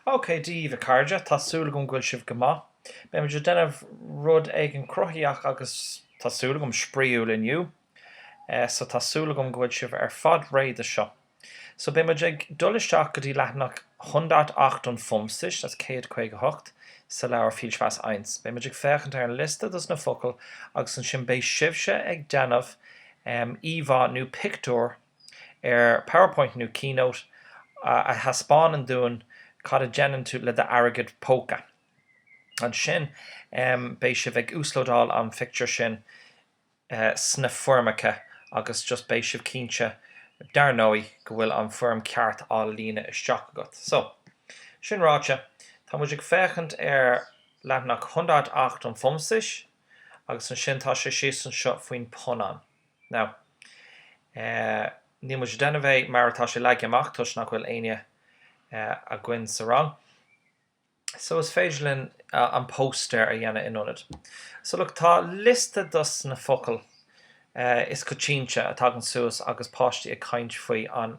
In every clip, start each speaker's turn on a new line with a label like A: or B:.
A: Ok Dia daoibh a chairde, tá súil agam go bhfuil sibh go maith. Beidh muid ag déanamh rud éigin cruthaitheach agus, tá súil agam, spraíúil inniu. Eh, so tá súil agam go bhfuil sibh ar fad réidh do seo. So beidh muid ag dul isteach go dtí leathanach hundertachtundfünfzig, that's céad caoga a hocht, sa leabhar Viel Spaß Eins. Beidh muid ag féachaint ar an liosta dos na focail agus ansin beidh sibhse ag déanamh, em, íomhá nó pictiúr ar Powerpoint nó Keynote a thaispeánann dúinn cad a dhéanann tú le d'airgead póca. Ansin beidh sibh ag uaslódáil an pictiúr sin sna foirmeacha agus just beidh sibh cinnte dar ndóigh go bhfuil an foirm ceart á líonadh isteach agat. So, sin ráite, tá muid ag féachaint ar leathanach hundertachtundfünfzig agus ansin tá sé síos anseo faoin phunann. Now, níl muid ag déanamh é mar atá sé leagtha amach toisc nach bhfuil éinne againn sa rang so is féidir linn an póstaer a dhéanamh in ionad. So look, tá liosta dos na focail is coitianta a tagann suas agus páistí ag caint faoi an.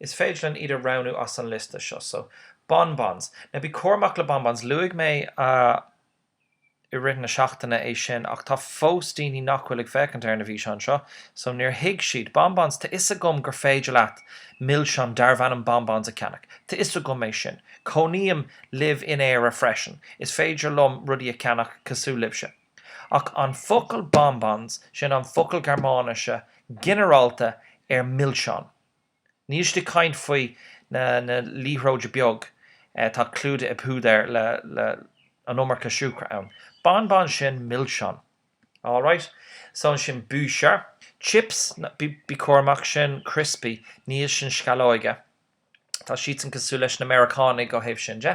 A: Is féidir linn iad a roghnú as an liosta seo. So. Bonbons. Now bí cúramach le bonbons. Luaigh mé i rith na seachtaine é sin ach tá fós daoine nach bhfuil ag féachaint ar na bhfíseáin seo so níor thuig siad. Bonbons, tá 'fhios agam gur féidir leat milseáin darbh ainm bonbons a cheannach. Tá 'fhios agam é sin. Cónaím live in Éire freisin. Is féidir liom rudaí a cheannach cosúil libhse. Ach an focal bonbons, sin an focal Gearmáinise ginearálta ar milseáin. Níl siad ag caint faoi na liathróid beag atá clúdaithe i bpúdar le an iomarca siúcra ann. Bonbons sin milseán. Alright. So ansin Bücher. Chips, bí cúramach, sin criospaí, níl sin sceallóige. Tá siadsan cosúil leis na Meiriceánaigh ó thaobh sin de.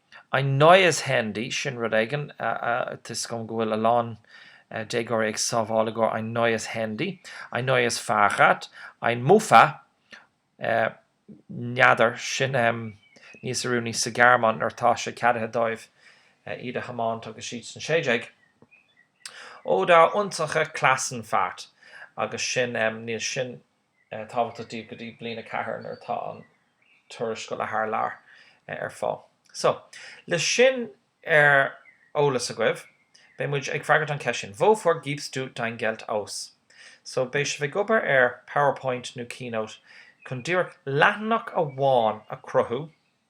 A: Ein neues Handy, sin rud éigin, tá 'fhios agam go bhfuil a lán déagóirí ag sábháil i gcomhair ein neues Handy, ein neues Fahrrad, ein Mofa, n'fheadar, sin níos oiriúnaí sa Ghearmáin nuair atá sé ceadaithe dóibh iad a thiomáint agus siad san 16. Oder unsere Klassenfahrt, agus sin, níl sin tábhachtach daoibh go dtí bliain a ceathair nuair atá an turas scoile thar lear ar fáil. So, leis sin ar eolas agaibh, beidh muid ag freagairt an cheist sin, Wofür gibst du dein Geld aus? So, beidh sibh ag obair ar Powerpoint nó Keynote chun díreach leathanach amháin a chruthú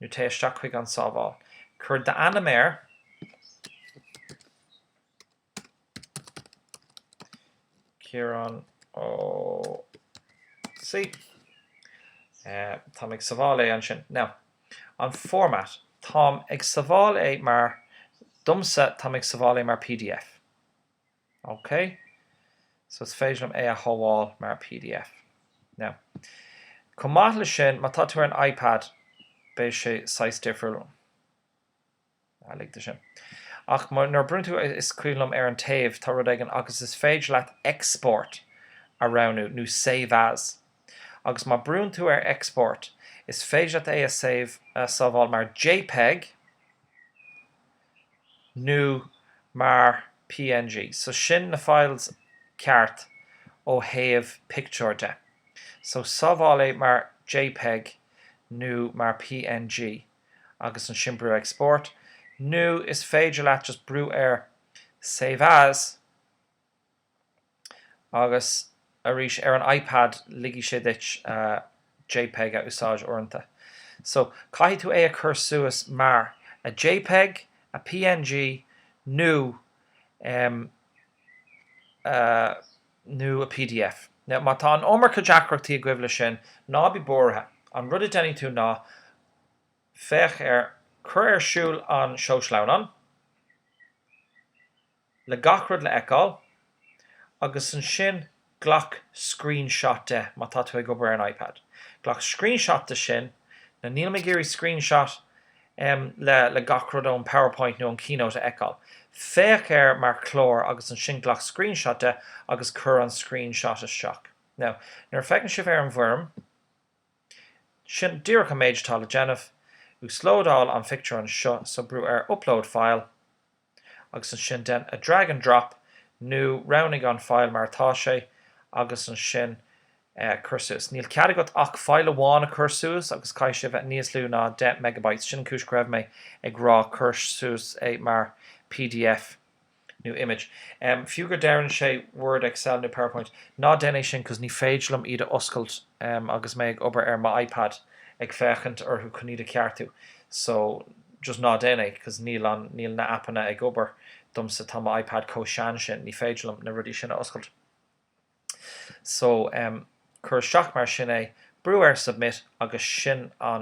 A: nó téigh isteach chuig An Sábháil. Cuir d'ainm air Ciarán Ó C. Táim ag sabháil é ansin. Now, an format, táim ag sabháil é mar, domsa, táim ag sabháil é mar pdf. OK, so is féidir liom é a shabháil mar pdf. Now, chomh maith le sin, má tá tú ar an iPad, beidh sé saghas difriúil. Ah, lig de sin. Ach nuair a brúnn tú, is cuimhin liom, ar an taobh, tá rud éigin, agus is féidir leat Export a roghnú, nó Save As. Agus má brúnn tú ar Export, is féidir leat é a save, a shábháil mar jpeg. nó mar png, so sin na files ceart ó thaobh pictiúir de, so sábháil é mar jpeg nó mar png agus ansin brú export, nó is féidir leat just brú ar save as, Agus arís, ar an iPad, ligfidh sé duit jpeg a úsáid uaireanta. So, caithfidh tú é a chur suas mar, a jpeg, a png, nó em, nó a pdf. Now, má tá an iomarca deacrachtaí agaibh le sin, ná bí buartha, an rud a déanfaidh tú ná, féach ar, cuir ar siúl an seó sleamhnán, le gach rud le fheiceáil agus ansin glac screenshot de, má tá tú ag obair ar an iPad. Glac screenshot de sin, na, nílim ag iarraidh screenshot em le, le gach rud ón PowerPoint nó ón Keynote a fheiceáil. Féach air mar shleamhnán agus ansin glac screenshot de agus cuir an screenshot isteach. Now, nuair a feiceann sibh ar an bhfoirm, sin díreach an méid atá le déanamh. Uaslódáil an phictiúr anseo, so brú ar Upload File. agus ansin déan a drag and drop nó roghnaigh an file mar atá sé agus ansin cuir suas. Níl cead agat ach file amháin a chur suas agus caithfidh sé a bheith níos lú ná 10 megabytes, sin an chúis go raibh mé ag rá cuir suas é mar pdf nó image. Fiú gur deireann sé Word, Excel nó Powerpoint, ná déan é sin cos ní féidir liom iad a oscailt agus mé ag obair ar mo iPad ag féachaint orthu chun iad a cheartú so, just ná déan é cos níl an, níl na aipeanna ag obair domsa tá mo ipad chomh sean sin ní féidir liom na rudaí sin a oscailt so em cuir isteach mar sin é brú ar submit agus sin an